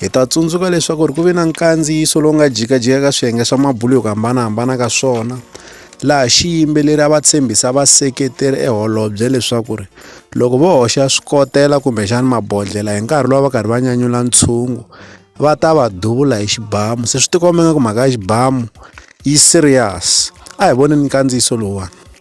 Hi ta tsundzuka leswaku ri ku ve na nkandziyiso lowu nga jikajika ka swiyenge swa mabulo hi ku hambanahambana ka swona laha xiyimbeleri a va tshembisa vaseketeri eholobye leswaku ri loko vo hoxa swikotela kumbexani mabodlhela hi nkarhi lowu va karhi va nyanyula ntshungu va ta va duvula hi xibamu se swi tikomba nga ku mhaka ya xibamu yi serious a hi voneni nkandziyiso lowuwani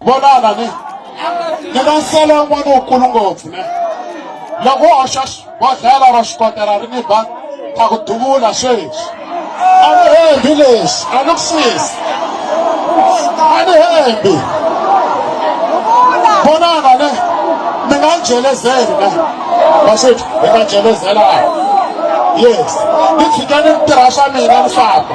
vonana ni ni na nsele wun'wana wukulu ngopfu ne loko wo hoxa bodlhela ro xikotela ri ni ba ta ku duvula sweswi a ni hembi leswi a ni ku sisi a ni hembi vonana ne mi nga jelezeli ne vaswethu hi nga jelezelana yes ni tshike ni tirha swa mina ni famba